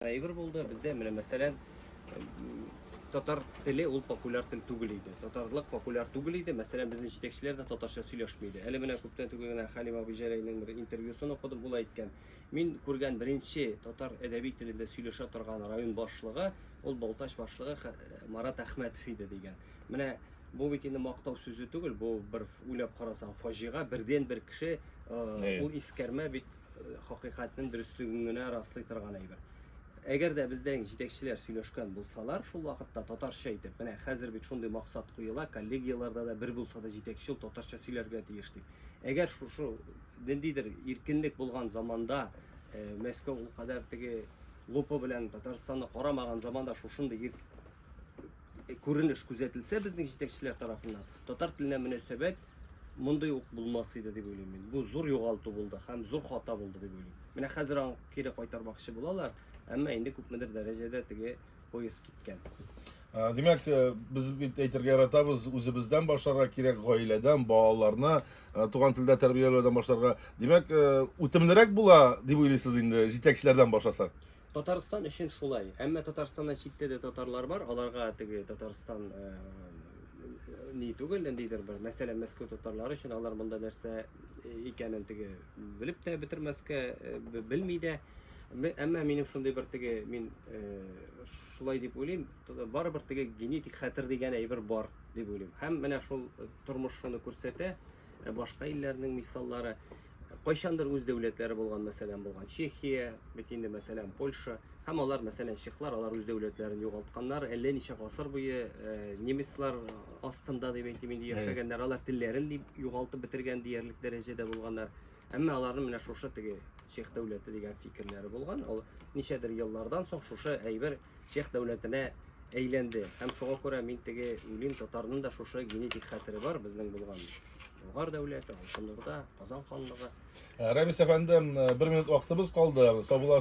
Әйбер булды, бездә менә мәсәлән татар теле ул популяр тел түгел иде. Татарлык популяр түгел иде. Мәсәлән, безнең җитәкчеләр дә татарча сөйләшми иде. Әле менә күптән түгел генә Хәлим абый Җәләйнең бер интервьюсын укыдым, ул әйткән. Мин күргән беренче татар әдәби телендә сөйләшә торган район башлыгы, ул Балтач башлыгы Марат Әхмәтов иде дигән. Менә бу бит инде мактау сүзе түгел, бу бер уйлап карасаң фаҗига, бердән бер кеше, ул искәрмә бит хакыйкатьнең дөреслеген генә раслый торган әйбер. Әгәр дә бездән җитәкчеләр сөйләшкән булсалар, шул вакытта татарча әйтеп, менә хәзер бит шундый максат куела, коллегияләрдә дә бер булса да җитәкче ул татарча сөйләргә тиеш дип. Әгәр шушы ниндидер иркенлек булган заманда э, Мәскәү ул кадәр теге лупа белән Татарстанны карамаган заманда шушындый Э, күренеш күзәтелсә безнең җитәкчеләр тарафыннан татар теленә мөнәсәбәт мондый ук булмас иде дип уйлыйм мин. Бу зур югалту булды һәм зур хата булды дип уйлыйм. Менә хәзер аны кире кайтармакчы булалар, әмма инде күпмедер дәрәҗәдә теге поезд киткән. Ә, Димәк, э, без бит әйтергә яратабыз, үзебездән башларга кирәк, гаиләдән, балаларны э, туган телдә тәрбияләүдән башларга. Димәк, э, үтемлерәк була дип уйлыйсыз инде җитәкчеләрдән башласак? Татарстан өчен шулай. Әмма Татарстаннан читтә дә татарлар бар, аларга теге Татарстан э, ни түгел, ниндидер бер мәсәлән Мәскәү татарлары өчен алар монда нәрсә э, икәнен теге белеп тә бетермәскә э, белми дә. Әмма минем шундый бер теге мин шулай дип уйлыйм, барыбер теге генетик хәтер дигән әйбер бар дип уйлыйм. Һәм менә шул тормыш шуны күрсәтә, башка илләрнең мисаллары. кайчандыр үз дәүләтләре булган, мәсәлән, булган Чехия, бит инде, мәсәлән, Польша, һәм алар, мәсәлән, чехлар, алар үз дәүләтләрен югалтканнар, әллә ничә гасыр буе э, немецлар астында дип әйтим инде яшәгәннәр, алар телләрен дип югалтып бетергән диярлек дәрәҗәдә булганнар. Әмма аларның менә шушы теге чех дәүләте дигән фикерләре булган. Ул ничәдер еллардан соң шушы әйбер чех дәүләтенә әйләнде. Һәм шуңа күрә мин теге үлим татарның да шушы генетик хәтере бар безнең булган. Болгар дәүләте, Алтын Урда, Казан ханлыгы. Ә, Рәмис әфәнде, бер минут вакытыбыз калды. Саубуллашырга